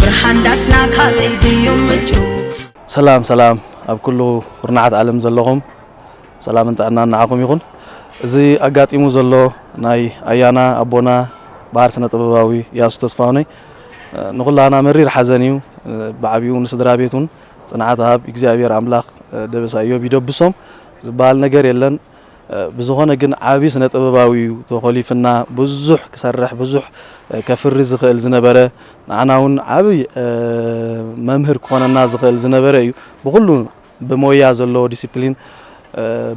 ብርሃን ዳስና ካበይ ድዩ ምንጩ? ሰላም ሰላም ኣብ ኩሉ ኩርናዓት ዓለም ዘለኹም ሰላምን ጥዕናን ንዓኹም ይኹን። እዚ ኣጋጢሙ ዘሎ ናይ ኣያና ኣቦና በሃር ስነ ጥበባዊ ኢያሱ ተስፋሁነይ ንኹላህና መሪር ሓዘን እዩ። ብዓቢኡ ንስድራ ቤት ውን ጽንዓት ሃብ ኢግዚኣብሄር ኣምላኽ ደበሳ ኢዮብ ይደብሶም ዝበሃል ነገር የለን። ብዝኾነ ግን ዓቢ ስነ ጥበባዊ ዩ ተኾሊፍና ብዙሕ ክሰርሕ ብዙሕ ከፍሪ ዝኽእል ዝነበረ ንዓና ውን ዓቢ መምህር ክኾነና ዝኽእል ዝነበረ ዩ ብኹሉ ብሞያ ዘለዎ ዲሲፕሊን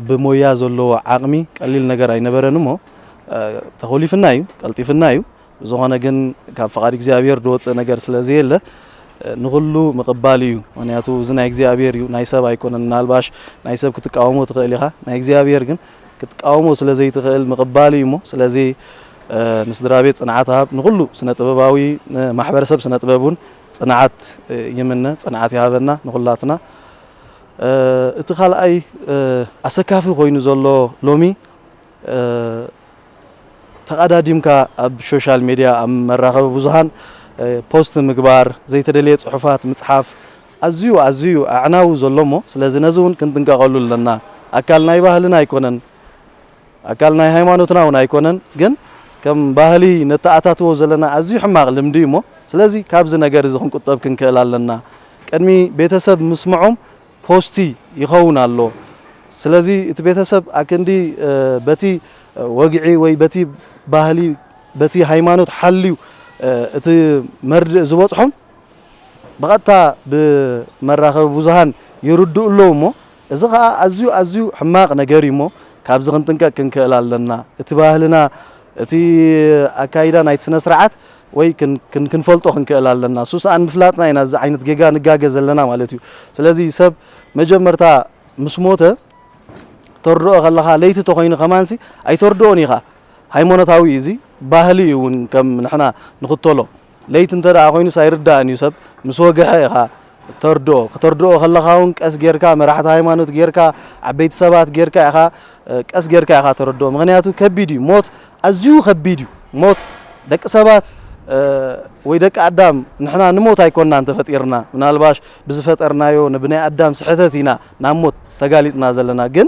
ብሞያ ዘለዎ ዓቕሚ ቀሊል ነገር ኣይነበረን እሞ ተኾሊፍና ዩ ቀልጢፍና ዩ ብዝኾነ ግን ካብ ፍቓድ እግዚኣብሔር ዝወፅእ ነገር ስለ ዘየለ ንኹሉ ምቕባል እዩ ምክንያቱ እዚ ናይ እግዚኣብሔር እዩ ናይ ሰብ ኣይኮነን ምናልባሽ ናይ ሰብ ክትቃወሞ ትኽእል ኢኻ ናይ እግዚኣብሔር ግን ክትቃወሞ ስለ ዘይትኽእል ምቕባል እዩ እሞ ስለዚ ንስድራ ቤት ፅንዓት ሃብ ንኹሉ ስነ ጥበባዊ ንማሕበረሰብ ስነ ጥበብ እውን ፅንዓት ይምነ ፅንዓት ይሃበና ንኹላትና እቲ ካልኣይ ኣሰካፊ ኮይኑ ዘሎ ሎሚ ተቓዳዲምካ ኣብ ሾሻል ሜድያ ኣብ መራኸቢ ብዙሃን ፖስት ምግባር፣ ዘይተደልየ ጽሑፋት ምጽሓፍ ኣዝዩ ኣዝዩ ኣዕናዊ ዘሎሞ ስለዚ ነዚ ውን ክንጥንቀቐሉ ኣለና ኣካል ናይ ባህልና ኣይኮነን ኣካል ናይ ሃይማኖትና ውን ኣይኮነን ግን ከም ባህሊ ነተኣታትዎ ዘለና ኣዝዩ ሕማቕ ልምዲ እዩሞ ስለዚ ካብዚ ነገር እዚ ክንቁጠብ ክንክእል ኣለና ቅድሚ ቤተሰብ ምስምዖም ፖስቲ ይኸውን ኣሎ ስለዚ እቲ ቤተሰብ ኣክንዲ በቲ ወግዒ ወይ በቲ ባህሊ በቲ ሃይማኖት ሓልዩ እቲ መርድእ ዝበጽሖም ብቐጥታ ብመራኸቢ ብዙሃን ይርድኡ ኣለዉ እሞ እዚ ከኣ ኣዝዩ ኣዝዩ ሕማቕ ነገር እዩ እሞ ካብዚ ክንጥንቀቅ ክንክእል ኣለና እቲ ባህልና እቲ ኣካይዳ ናይቲ ስነስርዓት ወይ ክንፈልጦ ክንክእል ኣለና ሱሳኣን ምፍላጥና ኢና እዚ ዓይነት ጌጋ ንጋገ ዘለና ማለት እዩ ስለዚ ሰብ መጀመርታ ምስ ሞተ ተርድኦ ከለኻ ለይቲ ተኮይኑ ከማንሲ ኣይተርድኦን ኢኻ ሃይማኖታዊ እዩ እዚ ባህሊ እዩ እውን ከም ንሕና ንኽተሎ ለይቲ እንተ ኮይኑስ ኣይርዳእን እዩ ሰብ ምስ ወግሐ ኢኻ እተርድኦ። ከተርድኦ ከለኻ ውን ቀስ ጌርካ መራሕቲ ሃይማኖት ጌርካ ዓበይቲ ሰባት ጌርካ ኢኻ ቀስ ጌርካ ኢኻ ተረድኦ ምኽንያቱ ከቢድ እዩ ሞት ኣዝዩ ከቢድ እዩ ሞት ደቂ ሰባት ወይ ደቂ ኣዳም ንሕና ንሞት ኣይኮናን ተፈጢርና ምናልባሽ ብዝፈጠርናዮ ንብናይ ኣዳም ስሕተት ኢና ናብ ሞት ተጋሊጽና ዘለና ግን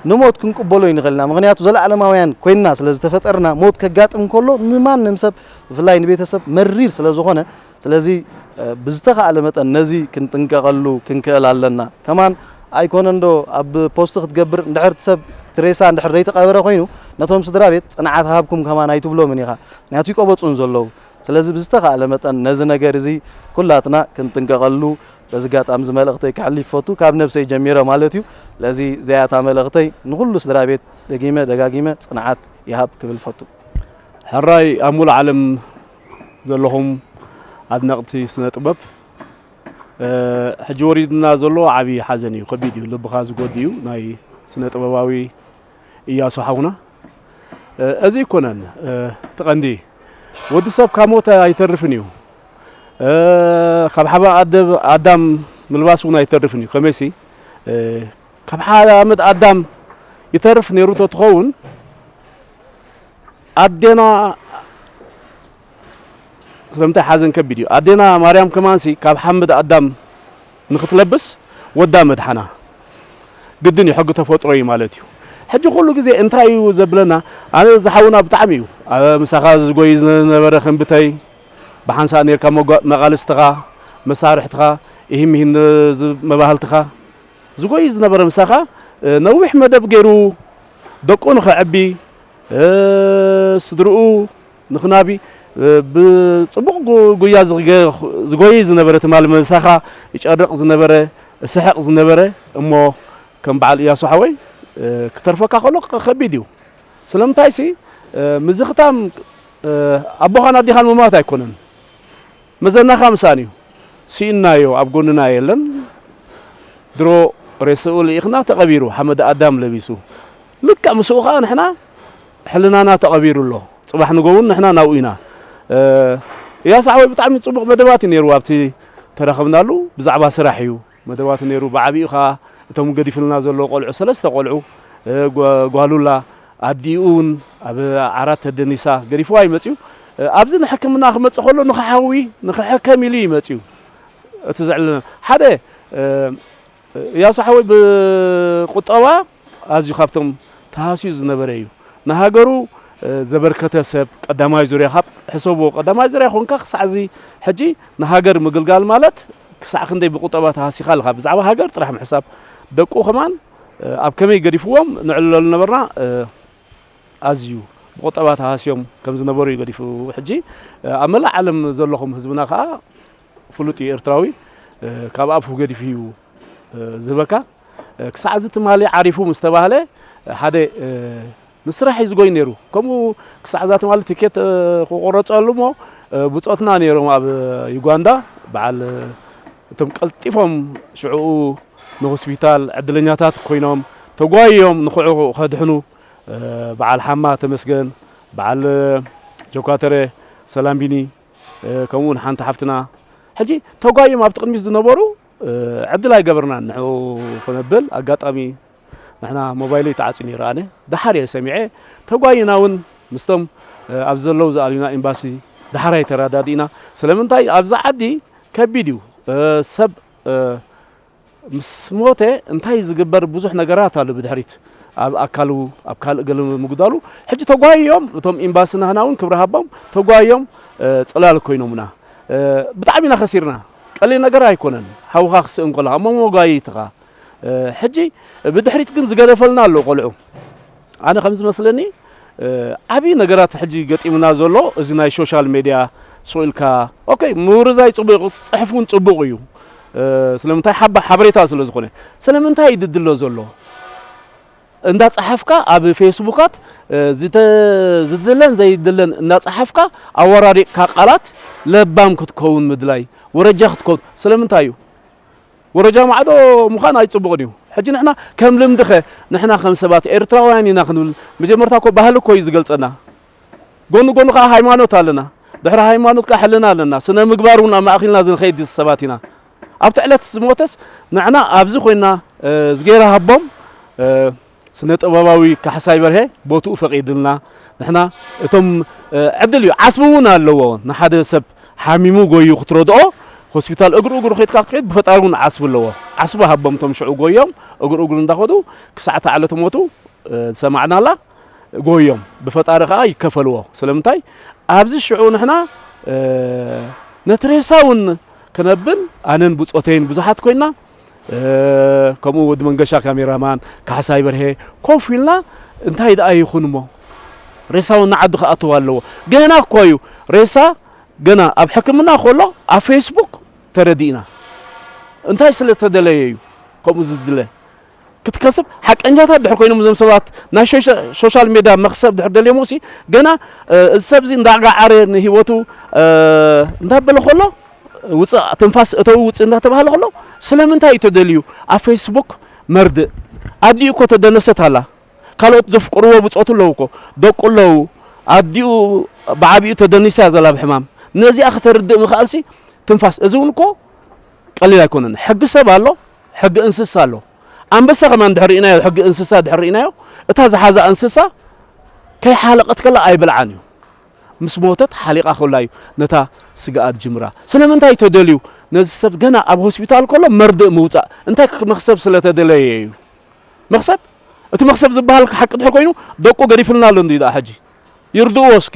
ንሞት ክንቅበሎ ይንኽእል ኢና፣ ምኽንያቱ ዘለኣለማውያን ኮይንና ስለ ዝተፈጠርና። ሞት ከጋጥም ከሎ ንማንም ሰብ ብፍላይ ንቤተሰብ መሪር ስለ ዝኾነ፣ ስለዚ ብዝተኻእለ መጠን ነዚ ክንጥንቀቐሉ ክንክእል ኣለና። ከማን ኣይኮነንዶ ኣብ ፖስት ክትገብር እንድሕር እቲ ሰብ እቲ ሬሳ እንድሕር ዘይተቐበረ ኮይኑ ነቶም ስድራቤት ጽንዓት ሃብኩም ከማን ኣይትብሎምን ኢኻ፣ ምኽንያቱ ይቀበጹን ዘለዉ። ስለዚ ብዝተኻእለ መጠን ነዚ ነገር እዚ ኩላትና ክንጥንቀቐሉ በዚ ኣጋጣሚ እዚ መልእኽተይ ከሕሊፍ ይፈቱ ካብ ነብሰይ ጀሚረ ማለት እዩ ስለዚ እዚኣ እታ መልእኽተይ ንኹሉ ስድራቤት ደጊመ ደጋጊመ ጽንዓት ይሃብ ክብል ይፈቱ። ሕራይ ኣብ ሙሉእ ዓለም ዘለኹም ኣድነቅቲ ስነ ጥበብ ሕጂ ወሪድና ዘሎ ዓቢ ሓዘን እዩ ከቢድ እዩ ልብኻ ዝጎድእ እዩ ናይ ስነ ጥበባዊ ኢያሱ ሓውና እዚ ኣይኮነን እቲ ቀንዲ ወዲ ሰብ ካብ ሞተ ኣይተርፍን እዩ ካብ ሓባ ኣደብ ኣዳም ምልባስ እውን ኣይተርፍን እዩ ከመይሲ ካብ ሓመድ ኣዳም ይተርፍ ነይሩ ተትኸውን ኣዴና ስለምንታይ ሓዘን ከቢድ እዩ ኣዴና ማርያም ከማንሲ ካብ ሓመድ ኣዳም ንክትለብስ ወዳ ምድሓና ግድን እዩ ሕጊ ተፈጥሮ እዩ ማለት እዩ ሕጂ ኩሉ ግዜ እንታይ እዩ ዘብለና ኣነ እዚ ሓውና ብጣዕሚ እዩ ምሳኻ ዝጎይ ዝነበረ ክንብተይ ብሓንሳእ ነርካ መቃልስትኻ መሳርሕትኻ ኢሂን ሚሂን መባህልትኻ ዝጎይ ዝነበረ ምሳኻ ነዊሕ መደብ ገይሩ ደቁ ንኸዕቢ ስድርኡ ንክናቢ ብጽቡቕ ጉያ ዝጎይይ ዝነበረ ትማሊ ምሳኻ ይጨርቕ ዝነበረ እስሕቕ ዝነበረ እሞ ከም በዓል እያሱ ሓወይ ክተርፈካ ከሎ ከቢድ እዩ ስለምንታይሲ ምዝኽታም ኣቦኻን ኣዴኻን ምሟት ኣይኮነን መዘናኻ ምሳን እዩ ስኢንናዮ ኣብ ጎንና የለን ድሮ ሬስኡ ልኢኽና ተቐቢሩ ሓመድ ኣዳም ለቢሱ ልክዕ ምስኡ ከኣ ንሕና ሕልናና ተቐቢሩ ኣሎ ጽባሕ ንጎ ውን ንሕና ናብኡ ኢና። እያሱ ሓወይ ብጣዕሚ ጽቡቕ መደባት እዩ ነይሩ ኣብቲ ተረኽብናሉ ብዛዕባ ስራሕ እዩ መደባቱ ነይሩ ብዓቢኡ ከኣ እቶም ገዲፍልና ዘሎ ቆልዑ ሰለስተ ቆልዑ ጓሉላ ኣዲኡ ውን ኣብ ዓራት ተደኒሳ ገዲፍዋ እዩ መጽዩ ኣብዚ ንሕክምና ክመጽእ ከሎ ንክሓዊ ንክሕከም ኢሉ እዩ መጽዩ እቲ ዘዕልለና ሓደ እያሱ ሓወይ ብቁጠባ ኣዝዩ ካብቶም ተሃስዩ ዝነበረ እዩ ንሃገሩ ዘበርከተ ሰብ ቀዳማይ ዙርያ ካብ ሕሰብዎ ቀዳማይ ዙርያ ኮንካ ክሳዕ እዚ ሕጂ ንሃገር ምግልጋል ማለት ክሳዕ ክንደይ ብቁጠባ ተሃሲኻ ኣለኻ ብዛዕባ ሃገር ጥራሕ ምሕሳብ ደቁ ከማን ኣብ ከመይ ገዲፍዎም ንዕልለሉ ነበርና ኣዝዩ ብቁጠባ ተሃስዮም ከም ዝነበሩ እዩ ገዲፉ ሕጂ ኣብ መላእ ዓለም ዘለኹም ህዝብና ከዓ ፍሉጥ እዩ ኤርትራዊ ካብ ኣፉ ገዲፉ እዩ ዝህበካ ክሳዕ እዚ ትማሊ ዓሪፉ ምስ ተባህለ ሓደ ንስራሕ እዩ ዝጎይ ነይሩ ከምኡ ክሳዕ እዛ ትማሊ ትኬት ክቆረፀሉ እሞ ብፆትና ነይሮም ኣብ ዩጋንዳ በዓል እቶም ቀልጢፎም ሽዕኡ ንሆስፒታል ዕድለኛታት ኮይኖም ተጓይዮም ንክዑ ከድሕኑ በዓል ሓማ ተመስገን በዓል ጆካተረ ሰላምቢኒ ከምኡ ውን ሓንቲ ሓፍትና ሕጂ ተጓይም ኣብቲ ቅድሚት ዝነበሩ ዕድል ኣይገበርናን ንዑ ክነብል ኣጋጣሚ ንሕና ሞባይለይ ተዓፅዩ ነይሩ ኣነ ደሓር እየ ሰሚዐ ተጓይና ውን ምስቶም ኣብ ዘለው ዝኣልዩና ኤምባሲ ደሓራይ ተረዳዲእና ስለምንታይ ኣብዛ ዓዲ ከቢድ እዩ ሰብ ምስ ሞተ እንታይ ዝግበር ብዙሕ ነገራት ኣሎ ብድሕሪት ኣብ ኣካሉ ኣብ ካልእ ገለ ምጉዳሉ ሕጂ ተጓይዮም እቶም ኤምባሲ ናህና እውን ክብሪ ሃቦም ተጓይዮም ጽላል ኮይኖምና ብጣዕሚ ኢና ከሲርና ቀሊል ነገር ኣይኮነን ሓውኻ ክስእን ከለኻ እሞ መጓየይትኻ ሕጂ ብድሕሪት ግን ዝገደፈልና ኣሎ ቆልዑ ኣነ ከም ዝመስለኒ ዓቢ ነገራት ሕጂ ገጢሙና ዘሎ እዚ ናይ ሾሻል ሜድያ ሱቅ ኢልካ ኦከይ ምውርዛይ ጽቡቅ እዩ ጽሕፍ እውን ጽቡቅ እዩ ስለምንታይ ሓባ ሓበሬታ ስለ ዝኾነ ስለምንታይ እዩ ድድሎ ዘሎ እንዳ ጸሓፍካ ኣብ ፌስቡካት ዝድለን ዘይድለን እንዳ ጸሓፍካ ኣወራሪቅካ ቃላት ለባም ክትከውን ምድላይ ወረጃ ክትከውን ስለምንታይ እዩ ወረጃ ማዕዶ ምዃን ኣይጽቡቕን እዩ። ሕጂ ንሕና ከም ልምድኸ ንሕና ከም ሰባት ኤርትራውያን ኢና ክንብል መጀመርታ እኮ ባህሊ እኮ እዩ ዝገልጸና ጎኑ ጎኑ ከኣ ሃይማኖት ኣለና ድሕሪ ሃይማኖት ከኣ ሕልና ኣለና ስነ ምግባር እውን ኣማእኺልና ዝንኸይድ ሰባት ኢና ኣብቲ ዕለት ዝሞተስ ንሕና ኣብዚ ኮይና ዝገይራ ሃቦም ስነ ጥበባዊ ካሕሳይ በርሀ ቦትኡ ፈቂድልና ንሕና እቶም ዕድል እዩ ዓስቢ እውን ኣለዎ ንሓደ ሰብ ሓሚሙ ጎዩ ክትረድኦ ሆስፒታል እግሩ እግሩ ኬድካ ክትከይድ ብፈጣሪ እውን ዓስቢ ኣለዎ ዓስቢ ሃቦም እቶም ሽዑ ጎዮም እግሩ እግሩ እንዳኸዱ ክሳዕ እታ ዕለተ ሞቱ ዝሰማዕናላ ጎዮም ብፈጣሪ ከዓ ይከፈልዎ ስለምንታይ ኣብዚ ሽዑ ንሕና ነቲ ሬሳ እውን ክነብን ኣነን ብፆተይን ብዙሓት ኮይና ከምኡ ወዲ መንገሻ ካሜራማን ካሕሳይ በርሄ ኮፍ ኢልና እንታይ ደኣ ይኹን እሞ ሬሳውን ንዓዲ ክኣተው ኣለዎ ገና እኮ እዩ ሬሳ ገና ኣብ ሕክምና ከሎ ኣብ ፌስቡክ ተረዲእና እንታይ ስለ ተደለየ እዩ ከምኡ ዝድለ ክትከስብ ሓቀኛታት ድሕር ኮይኖም እዞም ሰባት ናይ ሾሻል ሜዳ መክሰብ ድሕር ደልዮምሲ ገና እዚ ሰብዚ እንዳጋዓረ ንሂወቱ እንዳበለ ከሎ ውፅእ ትንፋስ እተው ውፅእ እንዳተባሃለ ከሎ ስለምንታይ እዩ ተደልዩ ኣብ ፌስቡክ መርድእ ኣዲኡ እኮ ተደነሰት ኣላ ካልኦት ዘፍቅርዎ ብፆቱ ኣለዉ እኮ ደቁ ኣለዉ ኣዲኡ ብዓቢኡ ተደኒሳ እያ ዘላ ብሕማም ነዚኣ ከተርድእ ምኽኣልሲ ትንፋስ እዚ እውን እኮ ቀሊል ኣይኮነን ሕጊ ሰብ ኣሎ ሕጊ እንስሳ ኣሎ ኣንበሳ ከማን ድሕር ርኢናዮ ሕጊ እንስሳ ድሕር ርኢናዮ እታ ዝሓዛ እንስሳ ከይሓለቐት ከላ ኣይበልዓን እዩ ምስ ሞተት ሓሊቓ ከላ እዩ ነታ ስጋኣ ዝጅምራ ስለምንታይ ተደልዩ ነዚ ሰብ ገና ኣብ ሆስፒታል ከሎ መርድእ ምውፃእ እንታይ መክሰብ ስለተደለየ እዩ መክሰብ እቲ መክሰብ ዝበሃል ሓቂ ድሕር ኮይኑ ደቁ ገዲፍልና ኣሎ እንዲ ደኣ ሕጂ ይርድእዎ እስከ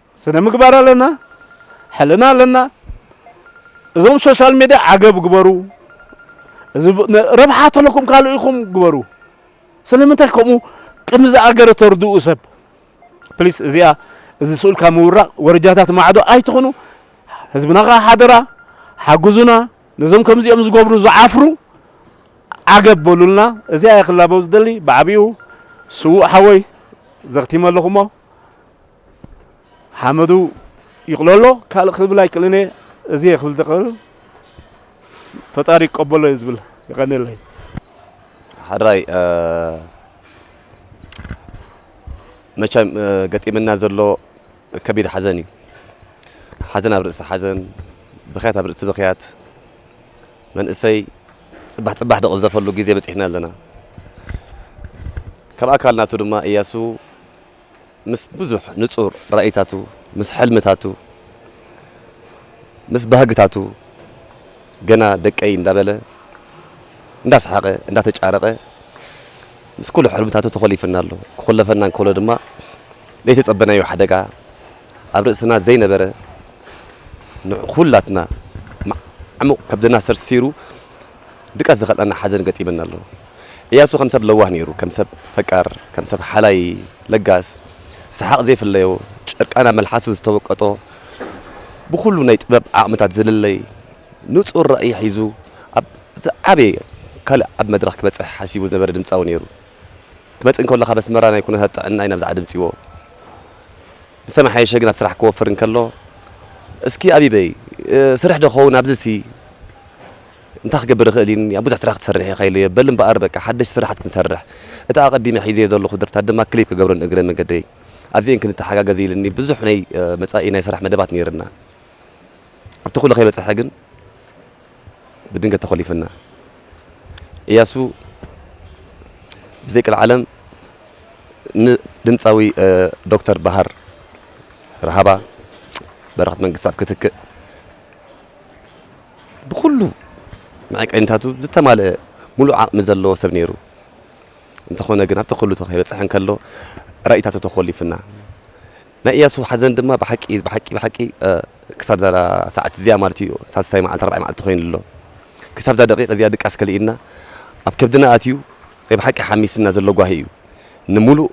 ስነ ምግባር ኣለና ሕልና ኣለና እዞም ሶሻል ሜድያ ዓገብ ግበሩ እዚ ረብሓ ተለኩም ካልእ ኢኹም ግበሩ ስለምንታይ ከምኡ ቅድሚ ዝኣገረ ተርድኡ ሰብ ፕሊስ እዚኣ እዚ ስኡልካ ምውራቕ ወረጃታት ማዕዶ ኣይትኹኑ ህዝብና ከዓ ሓደራ ሓግዙና ነዞም ከምዚኦም ዝገብሩ ዝዓፍሩ ዓገብ በሉልና እዚኣ ክላበው ዝደሊ ብዓብኡ ስውእ ሓወይ ዘኽቲመ ኣለኹሞ ሓመዱ ይቕሎ ኣሎ ካልእ ክብል ኣይክእልን እየ እዚ እየ ክብል ዝኽእል ፈጣሪ ይቀበሎ እዩ ዝብል የቐንየለይ ሓራይ መቸም ገጢምና ዘሎ ከቢድ ሓዘን እዩ ሓዘን ኣብ ርእሲ ሓዘን ብክያት ኣብ ርእሲ ብክያት መንእሰይ ፅባሕ ፅባሕ ደቕዘፈሉ ግዜ በፂሕና ኣለና ካብ ኣካል ናቱ ድማ እያሱ ምስ ብዙሕ ንጹር ራኢታቱ፣ ምስ ሕልምታቱ፣ ምስ ባህግታቱ፣ ገና ደቀይ እንዳበለ፣ እንዳሰሓቐ፣ እንዳተጫረቐ፣ ምስ ኩሉ ሕልምታቱ ተኾሊፉና ኣሎ። ክኹለፈና እንከሎ ድማ ዘይተጸበናዮ ሓደጋ፣ ኣብ ርእስና ዘይነበረ፣ ንኹላትና ማዕሙቕ ከብድና ሰርሲሩ ድቃስ ዝኸልኣና ሓዘን ገጢመና ኣሎ። እያሱ ከም ሰብ ለዋህ ነይሩ፣ ከም ሰብ ፈቃር፣ ከም ሰብ ሓላይ፣ ለጋስ፣ ሰሓቕ ዘይፍለዮ፣ ጭርቃን ኣብ መልሓሱ ዝተወቀጦ፣ ብኹሉ ናይ ጥበብ ዓቕምታት ዝልለይ፣ ንጹር ራእይ ሒዙ ኣብ ዝዓበየ ካልእ ዓቢ መድረኽ ክበጽሕ ሓሲቡ ዝነበረ ድምጻዊ ነይሩ። ክመጽእ እንከሎ ካብ ኣስመራ ናይ ኩነታት ጥዕናይ ናብዚ ዓዲ ኣምጺዎ። ዝተመሓየሸ ግና ስራሕ ክወፍር እንከሎ እስኪ ኣቢበይ ስርሕ ዶ ክኸውን ኣብዚሲ እንታይ ክገብር እኽእል ኢኒ ብዙሕ ስራሕ ክትሰርሕ ኢኻ ኢለዮ በል እምበኣር በቃ ሓደሽቲ ስራሓት ክንሰርሕ እቲ ኣቐዲመ ሒዘዮ ዘለኹ ደርፍታት ድማ ክሊፕ ክገብረን እግረ መገደይ ኣብዚኤን ክንተሓጋገዝ ኢልኒ ብዙሕ ናይ መጻኢ ናይ ስራሕ መደባት ነይርና ኣብቲ ኩሉ ከይበጽሐ ግን ብድንገት ተኾሊፍና። እያሱ ብዘይ ቀልዓለም ንድምጻዊ ዶክተር በሃር ራሃባ በረኸት መንግስትኣብ ክትክእ ብኹሉ መዐቀኒታቱ ዝተማልአ ሙሉእ ዓቕሚ ዘለዎ ሰብ ነይሩ። እንተኾነ ግን ኣብቲ ኩሉ ከይበጽሐ እንከሎ ራኢታቱ ተኾሊፍና። ናይ እያሱ ሓዘን ድማ ብሓቂ ብሓቂ ብሓቂ ክሳብ እዛ ሰዓት እዚኣ ማለት እዩ ሳልሳይ መዓልቲ ራብዓይ መዓልቲ ኮይኑ ኣሎ ክሳብ እዛ ደቂቅ እዚኣ ድቃስ ከሊእና ኣብ ከብድና ኣትዩ ናይ ብሓቂ ሓሚስና ዘሎ ጓሂ እዩ ንሙሉእ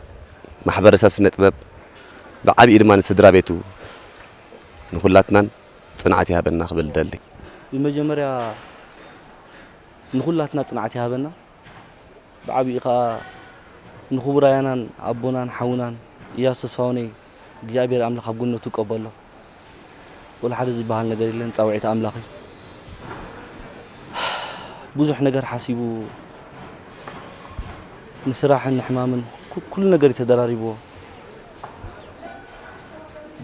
ማሕበረሰብ ስነ ጥበብ ብዓቢኡ ድማ ንስድራ ቤቱ ንኹላትናን ጽንዓት ይሃበና ክብል እደሊ። ብመጀመርያ ንኹላትና ጽንዓት ይሃበና። ብዓቢኡ ከኣ ንክቡር ኣያናን ኣቦናን ሓውናን ኢያሱ ተስፋውነይ እግዚኣብሄር ኣምላኽ ኣብ ገነቱ ይቀበሎ ወላሓደ ዝብሃል ነገር የለን ጻውዒት ኣምላኽ እዩ ብዙሕ ነገር ሓሲቡ ንስራሕን ንሕማምን ኩሉ ነገር እዩ ተደራሪብዎ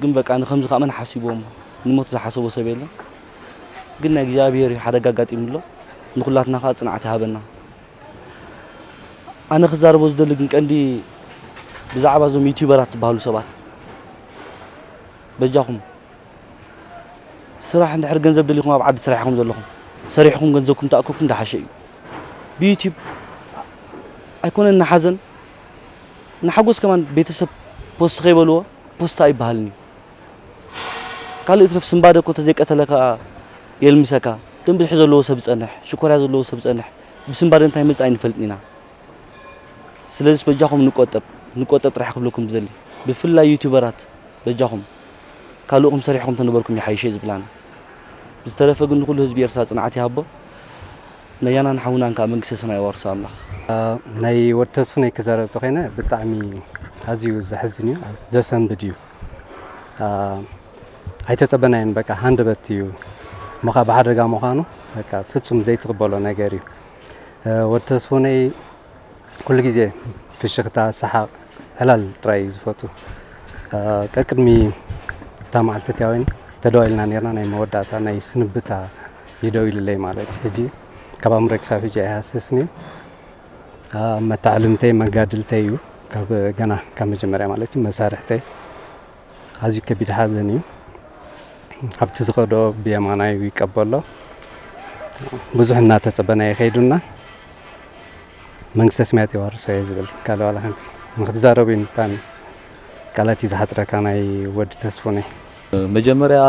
ግን በቃ ንከምዚ ከኣ መን ሓሲብዎ እሞ ንሞት ዝሓሰቦ ሰብ የለን ግን ናይ እግዚኣብሔር እዩ ሓደጋ ኣጋጢሙ ኣሎ ንኩላትና ከዓ ፅንዓት ይሃበና ኣነ ክዛረቦ ዝደሊ ግን ቀንዲ ብዛዕባ እዞም ዩቲዩበራት ትበሃሉ ሰባት በጃኹም ስራሕ እንድሕር ገንዘብ ደሊኹም ኣብ ዓዲ ስራሕ ኢኹም ዘለኹም ሰሪሕኹም ገንዘብኩም ተኣከብኩም ዳሓሸ እዩ ብዩቲዩብ ኣይኮነን ንሓዘን ንሓጎስ ከማን ቤተሰብ ፖስት ከይበልዎ ፖስት ኣይበሃልን እዩ ካልእ ይትረፍ ስንባደ እኮ ተዘይቀተለካ የልምሰካ ደም ብዝሒ ዘለዎ ሰብ ዝጸንሕ ሽኮርያ ዘለዎ ሰብ ዝጸንሕ ብስንባደ እንታይ ይመጽእ ኣይንፈልጥን ኢና ስለዝስ በጃኹም ንቆጠብ ንቆጠብ ጥራሕ ክብለኩም ዝደሊ ብፍላይ ዩቱበራት በጃኹም ካልእኹም ሰሪሕኹም ተነበርኩም ይሓይሸ ዝብል ኣነ ብዝተረፈ ግን ንኹሉ ህዝቢ ኤርትራ ጽንዓት ይሃቦ ነያናን ሓውናን ከኣ መንግስተ ሰማይ የዋርሶ ኣምላኽ ናይ ወድ ተስፉነይ ክዛረብ ተኮይነ ብጣዕሚ ኣዝዩ ዘሕዝን እዩ ዘሰንብድ እዩ ኣይተጸበናዮን በቃ ሃንደበት እዩ ሞኻ ብሓደጋ ምዃኑ በቃ ፍጹም ዘይትቕበሎ ነገር እዩ ወዲ ተስፎነይ ኩሉ ግዜ ፍሽኽታ ሰሓቕ ዕላል ጥራይ እዩ ዝፈቱ ቀቅድሚ እታ መዓልቲ እትያ ወይን ተደዋኢልና ነርና ናይ መወዳእታ ናይ ስንብታ ይደው ኢሉለይ ማለት ሕጂ ካብ ኣምረክሳብ ሕጂ ኣይሃስስን እዩ መታዓልምተይ መጋድልተይ እዩ ካብ ገና ካብ መጀመርያ ማለት እዩ መሳርሕተይ ኣዝዩ ከቢድ ሓዘን እዩ ኣብቲ ዝኸዶ ብየማናይ ይቀበሎ ብዙሕ እናተጸበና ይኸይዱና መንግስተ ሰማያት የዋርሶ እየ ዝብል ካልእ ዋላ ሓንቲ ንክትዛረቡ እዩ ብጣዕሚ ቃላት እዩ ዝሓጽረካ ናይ ወዲ ተስፉነይ መጀመርያ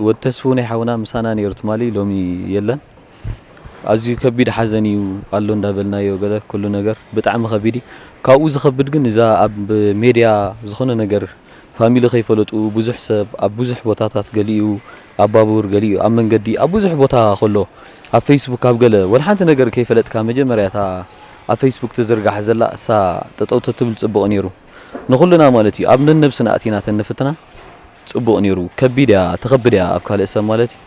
ወድ ተስፉ ናይ ሓውና ምሳና ኔሩ ትማሊ ሎሚ የለን ኣዝዩ ከቢድ ሓዘን እዩ ኣሎ እንዳበልናዮ ገለ ኩሉ ነገር ብጣዕሚ ከቢድ እዩ ካብኡ ዝከብድ ግን እዛ ኣብ ሜድያ ዝኮነ ነገር ፋሚሊ ከይፈለጡ ብዙሕ ሰብ ኣብ ብዙሕ ቦታታት ገሊኡ ኣብ ባቡር ገሊኡ ኣብ መንገዲ ኣብ ብዙሕ ቦታ ከሎ ኣብ ፌስቡክ ኣብ ገለ ወላ ሓንቲ ነገር ከይፈለጥካ መጀመርያ እታ ኣብ ፌስቡክ ትዝርጋሕ ዘላ እሳ ጠጠው ተትብል ጽቡቅ ኔሩ ንኹልና ማለት እዩ ኣብ ነነብስና ኣእቲና ተንፍትና ጽቡቅ ኔሩ ከቢድ እያ ተኸብድ እያ ኣብ ካልእ ሰብ ማለት እዩ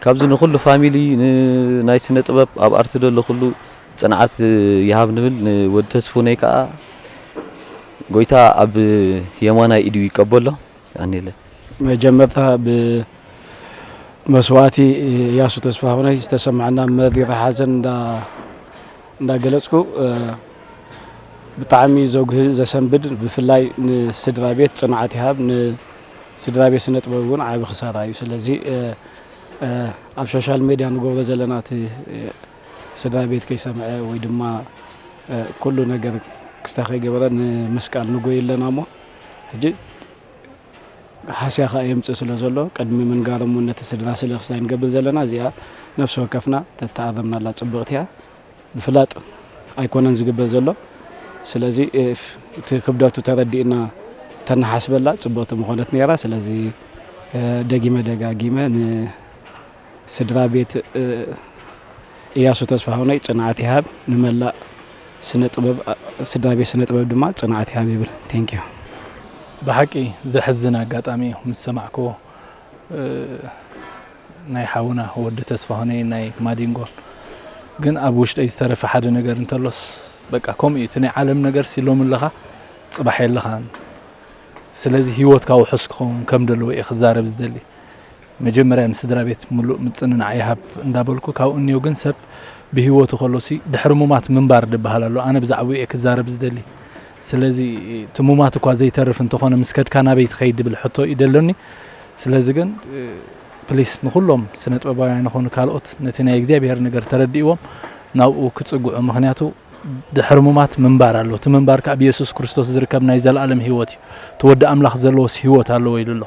ካብዚ ንኹሉ ፋሚሊ ን ናይ ስነ ጥበብ ኣብ ኣርቲ ደሎ ኩሉ ጽንዓት ይሃብ ንብል ን ወዲ ተስፉነይ ከኣ ጎይታ ኣብ የማናይ ኢዱ ይቀበሎ ኣኔለ። መጀመርታ ብ መስዋእቲ ያሱ ተስፋሁነይ ዝተሰመዐና መሪር ሓዘን እንዳ እንዳገለፅኩ ብጣዕሚ ዘጉህን ዘሰንብድ ብፍላይ ንስድራ ቤት ፅንዓት ይሃብ ንስድራ ቤት ስነ ጥበብ እውን ዓቢ ክሳራ እዩ ስለዚ ኣብ ሶሻል ሜድያ ንገብሮ ዘለና እቲ ስድራ ቤት ከይሰምዐ ወይ ድማ ኩሉ ነገር ክስታ ከይገበረ ንምስቃል ንጎይ ኣለና እሞ ሕጂ ሃስያ ከኣ የምጽእ ስለ ዘሎ ቅድሚ ምንጋሮም ውን ነቲ ስድራ ስለ ክስታይ ንገብር ዘለና እዚኣ ነብሲ ወከፍና ተተኣረምናላ ጽብቕቲ እያ ብፍላጥ ኣይኮነን ዝግበር ዘሎ ስለዚ እቲ ክብደቱ ተረዲእና ተናሓስበላ ጽብቕቲ ምኾነት ነይራ ስለዚ ደጊመ ደጋጊመ ን ስድራ ቤት እያሱ ተስፋሁነይ ጽንዓት ይሃብ ንመላእ ስነ ጥበብ ስድራ ቤት ስነ ጥበብ ድማ ጽንዓት ይሃብ ይብል ቴንኪዩ ብሓቂ ዘሕዝን ኣጋጣሚ እዩ ምስ ሰማዕክዎ ናይ ሓውና ወዲ ተስፋሁነይ ናይ ማዲንጎን ግን ኣብ ውሽጠይ ዝተረፈ ሓደ ነገር እንተሎስ በቃ ከምኡ እዩ እቲ ናይ ዓለም ነገር ሲ ሎሚ ኣለኻ ጽባሕ የለኻን ስለዚ ሂወትካ ውሑስ ክኸውን ከም ደለዎ እየ ክዛረብ ዝደሊ መጀመርያ ንስድራቤት ምሉእ ምጽንናዕ ይሃብ እንዳበልኩ ካብኡ እንየው ግን ሰብ ብሂወቱ ከሎሲ ድሕሪ ሙማት ምንባር ድብሃል ኣሎ ኣነ ብዛዕብኡ እየ ክዛረብ ዝደሊ ስለዚ እቲ ሙማት እኳ ዘይተርፍ እንተኾነ ምስ ከድካ ናበይ ትኸይድ ድብል ሕቶ እዩ ደሎኒ ስለዚ ግን ፕሊስ ንኹሎም ስነጥበባውያን ይኾኑ ካልኦት ነቲ ናይ እግዚኣብሄር ነገር ተረዲእዎም ናብኡ ክጽግዑ ምክንያቱ ድሕሪ ሙማት ምንባር ኣሎ እቲ ምንባር ከዓ ብየሱስ ክርስቶስ ዝርከብ ናይ ዘለኣለም ሂወት እዩ እቲ ወዲ ኣምላኽ ዘለዎስ ሂወት ኣለዎ ኢሉ ኣሎ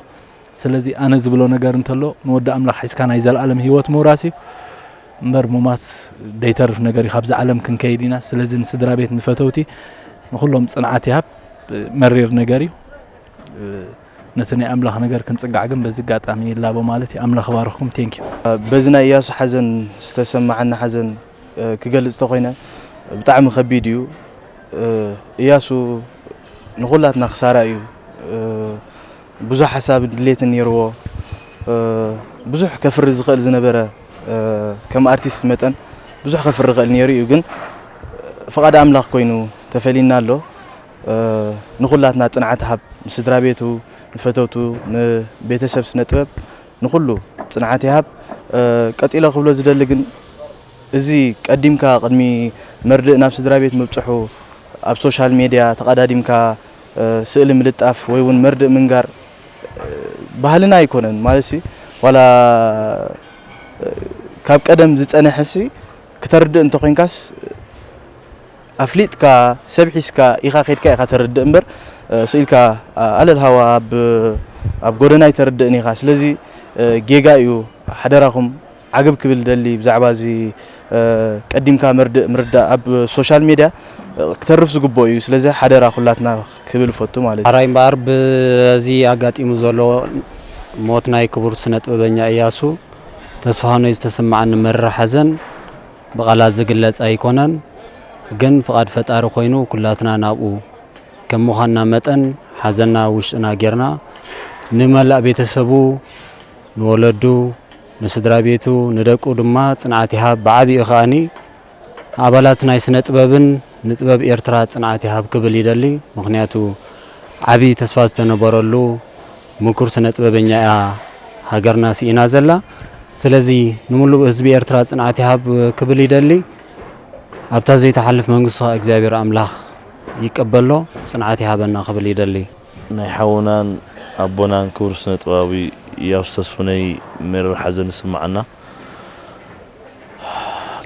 ስለዚ ኣነ ዝብሎ ነገር እንተሎ ንወዲ ኣምላኽ ሒዝካ ናይ ዘልኣለም ሂወት ምውራስ እዩ እምበር ሙማት ደይተርፍ ነገር እዩ ካብዛ ዓለም ክንከይድ ኢና ስለዚ ንስድራቤት ንፈተውቲ ንኹሎም ጽንዓት ይሃብ መሪር ነገር እዩ ነቲ ናይ ኣምላኽ ነገር ክንጽጋዕ ግን በዚ ኣጋጣሚ ይላቦ ማለት እዩ ኣምላኽ ባርኽኩም ቴንክ በዚ ናይ እያሱ ሓዘን ዝተሰማዓኒ ሓዘን ክገልጽ ተኾይነ ብጣዕሚ ከቢድ እዩ እያሱ ንኹላትና ክሳራ እዩ ብዙሕ ሓሳብን ድሌትን ኔርዎ ብዙሕ ከፍሪ ዝኽእል ዝነበረ ከም ኣርቲስት መጠን ብዙሕ ከፍሪ ይኽእል ኔሩ እዩ ግን ፍቓድ ኣምላኽ ኮይኑ ተፈሊና ኣሎ ንኹላትና ጽንዓት ሃብ ንስድራ ቤቱ ንፈተውቱ ንቤተሰብ ስነ ጥበብ ንኹሉ ጽንዓት ይሃብ ቀጺለ ክብሎ ዝደሊ ግን እዚ ቀዲምካ ቅድሚ መርድእ ናብ ስድራ ቤት ምብጽሑ ኣብ ሶሻል ሜድያ ተቐዳዲምካ ስእሊ ምልጣፍ ወይ ውን መርድእ ምንጋር ባህልና ኣይኮነን ማለት ዋላ ካብ ቀደም ዝጸነሐ ሲ ክተርድእ እንተኮንካስ ኣፍሊጥካ ሰብ ሒስካ ኢኻ ከድካ ኢኻ ተርድእ እምበር ስኢልካ ኣለል ሃዋ ኣብ ኣብ ጎደና ኣይተርድእን ኢኻ ስለዚ ጌጋ እዩ ሓደራኹም ዓገብ ክብል ዝደሊ ብዛዕባ እዚ ቀዲምካ መርድእ ምርዳእ ኣብ ሶሻል ሜድያ ክተርፍ ዝግብኦ እዩ ስለዚ ሓደራ ኩላትና ክብል እፈቱ ማለት እዩ። ሐራይ እምበኣር በዚ ኣጋጢሙ ዘሎ ሞት ናይ ክቡር ስነጥበበኛ እያሱ ተስፋሁነይ ዝተሰመዓኒ መሪር ሓዘን ብቃላት ዝግለጽ ኣይኮነን ግን ፍቃድ ፈጣሪ ኮይኑ ኩላትና ናብኡ ከም ምዃንና መጠን ሓዘና ኣብ ውሽጥና ጌርና ንመላእ ቤተሰቡ ንወለዱ ንስድራቤቱ ንደቁ ድማ ጽንዓት ይሃብ ብዓቢኡ ከኣ ንኣባላት ናይ ስነ ጥበብን ንጥበብ ኤርትራ ጽንዓት ይሃብ ክብል ይደሊ ምኽንያቱ ዓቢ ተስፋ ዝተነበረሉ ምኩር ስነ ጥበበኛ እያ ሃገርና ሲኢና ዘላ ስለዚ ንምሉእ ህዝቢ ኤርትራ ጽንዓት ይሃብ ክብል ይደሊ ኣብታ ዘይትሓልፍ መንግስቱ ከኣ እግዚኣብሔር ኣምላኽ ይቀበሎ ጽንዓት ይሃበና ክብል ይደሊ። ናይ ሓውናን ኣቦናን ክቡር ስነጥበባዊ ኢያሱ ተስፉነይ መሪር ሓዘን ይስምዓና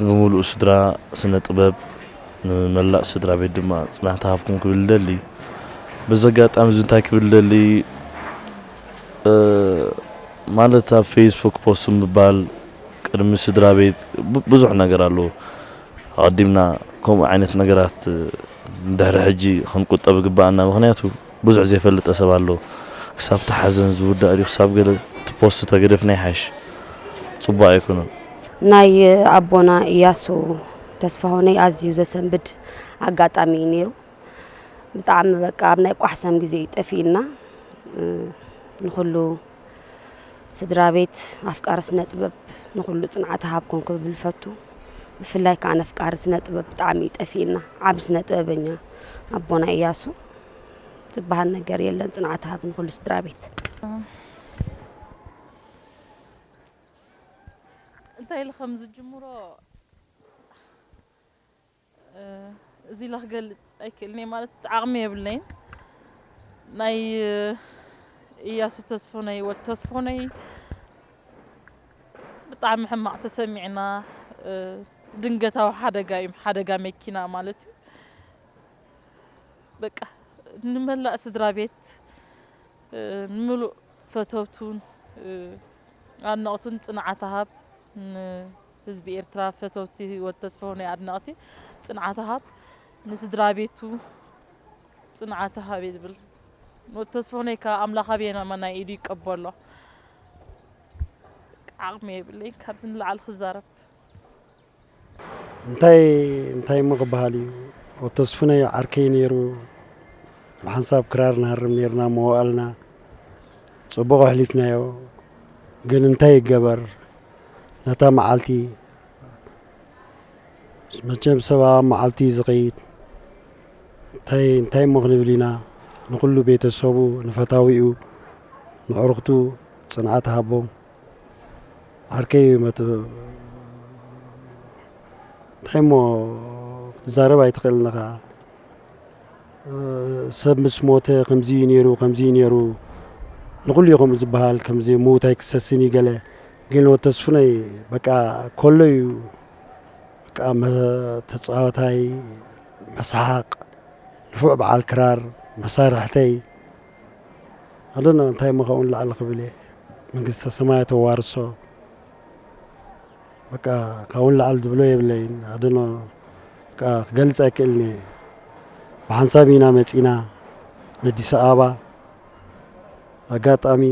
ንሙሉኡ ስድራ ስነ ጥበብ ንመላእ ስድራቤት ድማ ጽንዓት ይሃብኩም ክብል ይደሊ በዚ ኣጋጣሚ እዚ እንታይ ክብል ይደሊ ማለት ኣብ ፌስቡክ ፖስት ምባል ቅድሚ ስድራቤት ብዙሕ ነገር ኣሎ ኣቐዲምና ከምኡ ዓይነት ነገራት ድሕሪ ሕጂ ክንቁጠብ ይግበኣና ምኽንያቱ ብዙሕ ዘይፈልጠ ሰብ ኣሎ ክሳብ እቲ ሓዘን ዝውዳእ ድዩ ክሳብ ገለ እቲ ፖስት ተገደፍና ይሓይሽ ጽቡቕ ኣይኮነን። ናይ ኣቦና ኢያሱ ተስፋሁነይ ኣዝዩ ዘሰንብድ ኣጋጣሚ እዩ ነይሩ ብጣዕሚ በቃ ኣብ ናይ ቋሕሰም ግዜ እዩ ጠፊእና ንኹሉ ስድራ ቤት ኣፍቃሪ ስነ ጥበብ ንኩሉ ፅንዓት ሃብ ኮንኩ ክብል ፈቱ ብፍላይ ከዓ ነፍቃሪ ስነ ጥበብ ብጣዕሚ እዩ ጠፊእና ዓብ ስነ ጥበበኛ ኣቦና እያሱ ዝበሃል ነገር የለን ፅንዓት ሃብ ንኩሉ ስድራ ቤት እንታይ ኢሉ ከም ዝጅምሮ እዚ ኢለ ክገልጽ ኣይክእልን'የ ማለት ዓቕሚ የብለይን ናይ እያሱ ተስፎነይ ወድ ተስፎነይ ብጣዕሚ ሕማቕ ተሰሚዕና ድንገታዊ ሓደጋ እዩ ሓደጋ መኪና ማለት እዩ በቃ ንመላእ ስድራ ቤት ንምሉእ ፈተውቱን ኣድነቕቱን ፅንዓት ሃብ ህዝቢ ኤርትራ ፈተውቲ ወድ ተስፈው ናይ ኣድነቅቲ ጽንዓት ሃብ ንስድራቤቱ ጽንዓት ሃብ ይብል ወድ ተስፈውነይ ከኣ ኣምላኽ ኣብ የማናይ ኢዱ ይቀበሎ ዓቅሚ የብለይ ካብዚ ንላዕሊ ክዛረብ እንታይ እንታይ እሞ ክበሃል እዩ ወድ ተስፉነይ ዓርከይ ነይሩ ብሓንሳብ ክራር ንሃርም ነርና መዋእልና ጽቡቅ ኣሕሊፍናዮ ግን እንታይ ይገበር ነታ መዓልቲ መቸም ሰብ ኣብ መዓልቲ እዩ ዝኸይድ እንታይ እንታይ እሞ ክንብል ኢና ንኹሉ ቤተሰቡ ንፈታዊኡ ንዕርኽቱ ፅንዓት ሃቦም ዓርከይ እዩ መት እንታይ እሞ ክትዛረብ ኣይትኽእልን ኢኻ ሰብ ምስ ሞተ ከምዚ እዩ ነይሩ ከምዚ እዩ ነይሩ ንኹሉ እዩ ከምኡ ዝበሃል ከምዚ ምዉት ኣይክሰስን እዩ ገለ ግን ወዲ ተስፉነይ በቃ ኮሎ እዩ በቃ ተፃዋታይ መስሓቕ ንፉዕ በዓል ክራር መሳርሕተይ ኣዶኖ እንታይ እሞ ካብኡ ንላዕሊ ክብል እየ መንግስተ ሰማያት ኣዋርሶ በቃ ካብኡ ንላዕሊ ዝብሎ የብለይን ኣዶኖ በቃ ክገልፅ ኣይክእልን እየ ብሓንሳብ ኢና መፂና ነዲስ ኣበባ ኣጋጣሚ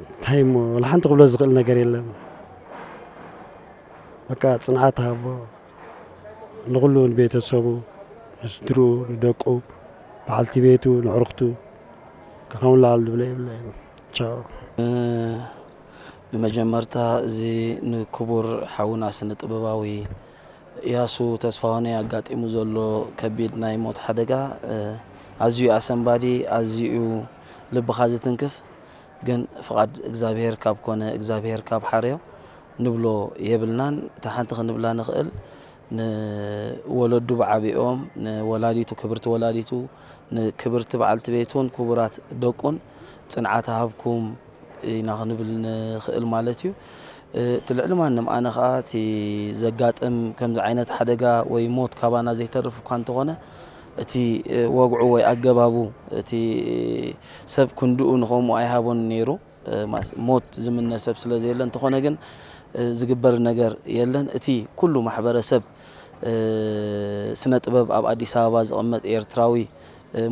እንታይ እሞ ወላ ሓንቲ ክብሎ ዝኽእል ነገር የለን በቃ ፅንዓት ሃቦ ንኹሉ ንቤተሰቡ ንስድርኡ ንደቁ በዓልቲ ቤቱ ንዕርኽቱ ካብኡ ንላዕሊ ዝብሎ የብለይን ንመጀመርታ እዚ ንክቡር ሓውና ስነ ጥበባዊ እያሱ ተስፋሁነይ ኣጋጢሙ ዘሎ ከቢድ ናይ ሞት ሓደጋ ኣዝዩ እዩ ኣሰንባዲ፣ ኣዝዩ እዩ ልብኻ ዝትንክፍ። ግን ፍቓድ እግዚኣብሄር ካብ ኮነ እግዚኣብሄር ካብ ሓርዮ ንብሎ የብልናን። እታ ሓንቲ ክንብላ ንኽእል ንወለዱ ብዓቢኦም ንወላዲቱ ክብርቲ ወላዲቱ ንክብርቲ በዓልቲ ቤቱን ኩቡራት ደቁን ጽንዓት እሃብኩም ኢና ክንብል ንክእል ማለት እዩ እቲ ልዕሊ ማንም ኣነ ከኣ እቲ ዘጋጥም ከምዚ ዓይነት ሓደጋ ወይ ሞት ካባና ዘይተርፍ እኳ እንተኾነ እቲ ወግዑ ወይ ኣገባቡ እቲ ሰብ ክንድኡ ንኸምኡ ኣይሃቦን ነይሩ ሞት ዝምነ ሰብ ስለ ዘየለ እንተኾነ ግን ዝግበር ነገር የለን። እቲ ኩሉ ማሕበረሰብ ስነ ጥበብ ኣብ ኣዲስ ኣበባ ዝቕመጥ ኤርትራዊ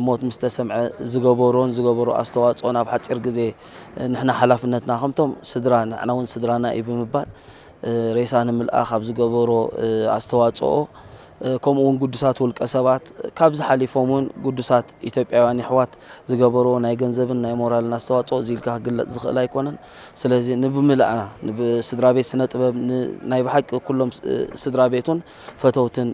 ሞት ምስ ተሰምዐ ዝገበሮን ዝገበሮ ኣስተዋጽኦን ኣብ ሓጺር ግዜ ንሕና ሓላፍነትና ከምቶም ስድራ ንሕና እውን ስድራና እዩ ብምባል ሬሳ ንምልኣኽ ኣብ ዝገበሮ ኣስተዋጽኦ ከምኡ እውን ግዱሳት ውልቀ ሰባት ካብዚ ሓሊፎም እውን ግዱሳት ኢትዮጵያውያን የሕዋት ዝገበርዎ ናይ ገንዘብን ናይ ሞራልን ኣስተዋጽኦ እዚ ኢልካ ክግለጽ ዝኽእል ኣይኮነን። ስለዚ ንብምልእና ንብስድራቤት ስነ ጥበብ ን ናይ ብሓቂ ኩሎም ስድራ ቤቱን ፈተውትን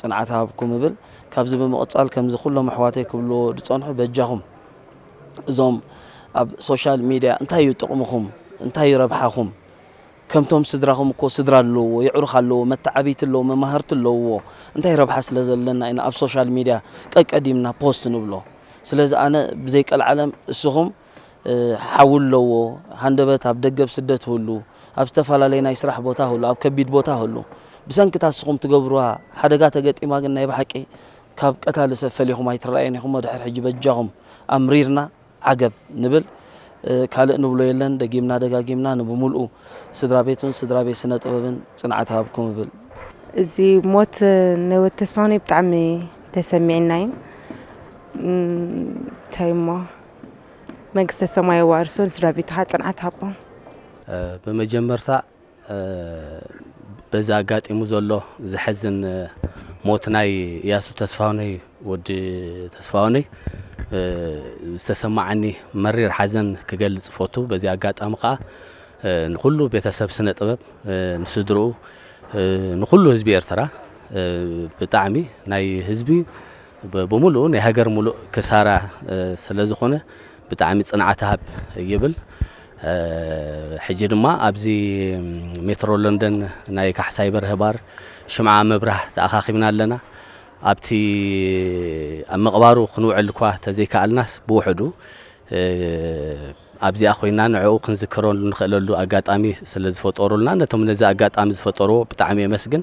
ጽንዓት ሃብኩም እብል። ካብዚ ብምቕጻል ከምዚ ኩሎም ኣሕዋተይ ክብልዎ ዝጸንሑ በጃኹም እዞም ኣብ ሶሻል ሚድያ እንታይ እዩ ጥቕምኹም እንታይ እዩ ረብሓኹም? ከምቶም ስድራኹም እኮ ስድራ ኣለውዎ የዕሩኽ ኣለውዎ መታዓብይቲ ኣለውዎ መማህርቲ ኣለውዎ እንታይ ረብሓ ስለ ዘለና ኢና ኣብ ሶሻል ሚድያ ቀቀዲምና ፖስት ንብሎ ስለዚ ኣነ ብዘይ ቀልዓለም እስኹም ሓው ኣለውዎ ሃንደበት ኣብ ደገ ኣብ ስደት ህሉ ኣብ ዝተፋላለየ ናይ ስራሕ ቦታ ህሉ ኣብ ከቢድ ቦታ ህሉ ብሰንኪ እታ እስኹም ትገብርዋ ሓደጋ ተገጢማ ግን ናይ ባሓቂ ካብ ቀታሊ ሰብ ፈሊኹም ኣይትራኣዩን ኢኹምሞ ድሕር ሕጂ በጃኹም ኣምሪርና ዓገብ ንብል ካልእ ንብሎ የለን ደጊምና ደጋጊምና ንብሙልኡ ስድራቤቱን ስድራቤት ስነ ጥበብን ጽንዓት ይሃብኩም እብል። እዚ ሞት ናይ ወዲ ተስፋሁነይ ብጣዕሚ ተሰሚዕና እዩ እንታይ እሞ መንግስተ ሰማይ የዋርሶ ንስድራቤቱ ከዓ ፅንዓት ሃቦም። ብመጀመርታ በዚ ኣጋጢሙ ዘሎ ዘሕዝን ሞት ናይ እያሱ ተስፋሁነይ ወዲ ተስፋሁነይ ዝተሰማዓኒ መሪር ሓዘን ክገልጽ እፈቱ። በዚ ኣጋጣሚ ከኣ ንኹሉ ቤተሰብ ስነ ጥበብ ንስድርኡ ንኹሉ ህዝቢ ኤርትራ ብጣዕሚ ናይ ህዝቢ ብምሉኡ ናይ ሃገር ምሉእ ክሳራ ስለ ዝኾነ ብጣዕሚ ጽንዓት ሃብ ይብል ሕጂ ድማ ኣብዚ ሜትሮ ለንደን ናይ ካሕሳይ በርሀ ባር ሽምዓ ምብራህ ተኣኻኺብና ኣለና ኣብቲ ኣብ ምቕባሩ ክንውዕል እኳ ተዘይከኣልናስ ብውሕዱ ኣብዚኣ ኮይና ንዕኡ ክንዝክረሉ ንኽእለሉ ኣጋጣሚ ስለዝፈጠሩልና ነቶም ነዚ ኣጋጣሚ ዝፈጠርዎ ብጣዕሚ የመስግን